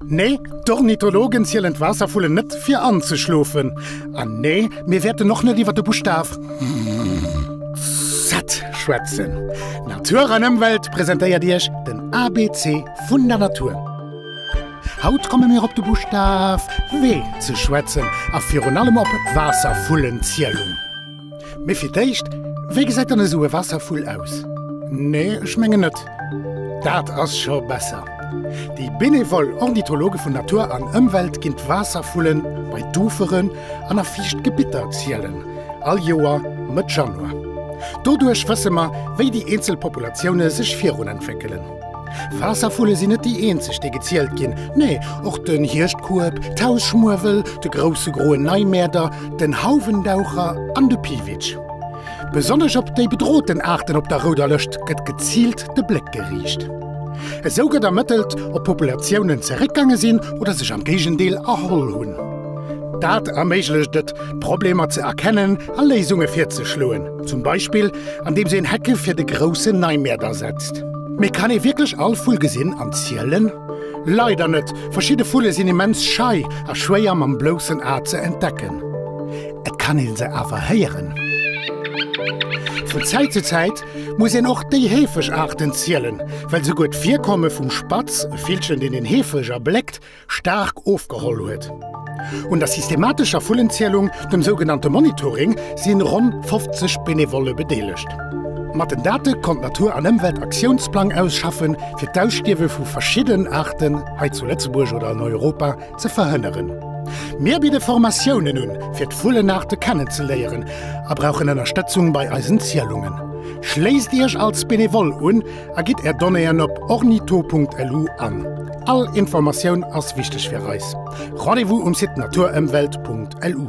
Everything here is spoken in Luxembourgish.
Nee, d'Ornithologen zielen d'Waasservullen net fir anzeschlofen. An nee, mir wäerten och net iwwer de Buschtaf Z schwätzen. Natur an Ëmwelt presentéiert Iech den ABC vun der Natur. Haut komme mir op de Buschtaf W ze schwätzen a virun allem op d'Waasservullenzielung. Mee fir d'éischt, wéi gesäit dann esou e Waasservull aus? Nee, ech mengen net. Dat ass scho besser. Déi benevol Ornithologe vun Natur an Ëmwelt ginn d'Waasservullen bei d'Uferen an a fiicht Gebitter zielen, all Joer Mëtt Januar. Doduerch wësse mer, wéi déi eenzel Populatioune sech virunentwéckelen. Waasservulle sinn net déi eenzeg, déi gezielt ginn. Nee, och den Hierschtkueb, d'Hausschmuewel, de Grousse Groen Neimäerder, den Hauwendaucher an de Piwitsch. Besonnesch op déi bedroten Aarten op der Rouder Lëscht gëtt geziilt de Bléck geriicht. Esou gëtt ermëttelt, ob Populatiounen zeréckgaange sinn oder sech am Géigendeel erholl hunn. Dat erméiglecht et, d'Problemer ze erkennen a Léisunge virzeschloen, zum Beispill andeems een Hecke fir de Grousse Neimäerder setzt. Mee kann ee wierklech all Vull gesinn an zielen? Leider net, verschidde Vulle sinn immens schei a schwéier mam bloussen A ze entdecken. Et kann ee se awer héieren. Vun Zäit zu Zäit muss een och déi heefeg Aarten zielen, well souguer d'Virkomme vum Spatz, e Villchen deen een heefeg erbléckt, staark ofgeholl huet. Un der systematescher Vullenzielung, dem sougenannte Monitoring, si ronn 50 Benevolle bedeelegt. Mat den Date konnt d'Natur an Ëmwelt Aktiounsplang ausschaffen, fir d'Ausstierwe vu verschidden Aarten hei zu Lëtzebuerg oder an Europa ze verhënneren. Mir bidde Formatiounen un, fir d'Vullenaarte kennenzeléieren a brauchen Ënnerstëtzung bei eisen Zielungen. Schléisst Iech als Benevole un! A gitt Är Donnéeën op ornitho.lu an. All Informatioun ass wichteg fir eis. Rendez-vous um Site naturemwelt.lu.